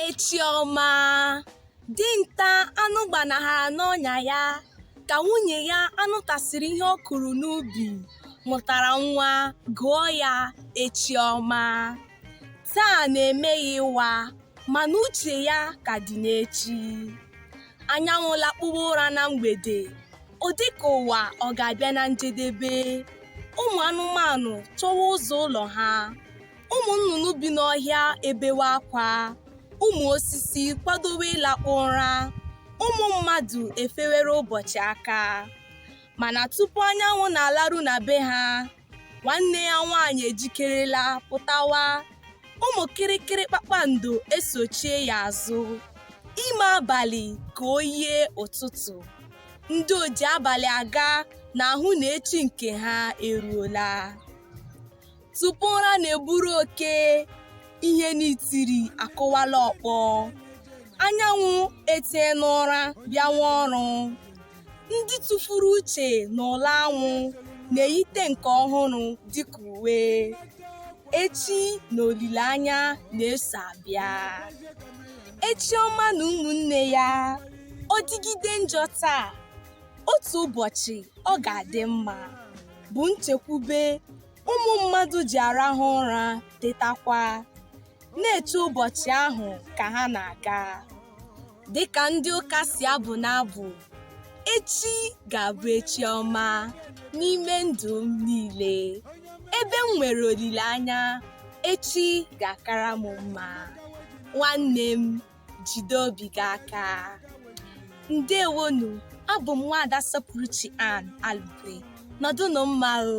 echi ọma dinta anụ gbanahara n'ọnya ya ka nwunye ya anụ tasịrị ihe ọ kụrụ n'ubi mụtara nwa gụọ ya echi ọma taa na-eme ya ịwa mana uche ya ka dị n'echi anyanwụ lakpuwa ụra na mgbede ọ dị ka ụwa ọ ga-abịa na njedebe ụmụ anụmanụ chọwa ụzọ ụlọ ha ụmụ nnụnụ bi n'ọhịa ebewe akwa ụmụ osisi kwadowe ịlakpu ụra ụmụ mmadụ efewere ụbọchị aka mana tupu anyanwụ na-alaru na be ha nwanne ya nwaanyị ejikerela pụtawa ụmụ kịrịkịrị kpakpando esochie ya azụ ime abalị ka o yie ụtụtụ ndị oji abalị aga na-ahụ na echi nke ha eruola tupu ụra na-eburu oke ihe na itiri akụwala ọkpọ anyanwụ etie n'ụra bịawa ọrụ ndị tụfuru uche n'ụla anwụ na-eyite nke ọhụrụ dịka uwe echi na olileanya na-eso abịa echi ọma na ụmụnne ya ọ dịgide njọ taa otu ụbọchị ọ ga-adị mma bụ nchekwube ụmụ mmadụ ji arahụ ụra tetakwa na-eche ụbọchị ahụ ka ha na-aga dịka ndị ụka si abụ n'abụ echi ga-abụ echi ọma n'ime ndụ m niile ebe m nwere olileanya echi ga-akara m mma nwanne m jide obi gị aka ndewonu abụ m nwaada sọpụrụchi ann alugwe nọdụnụ mma o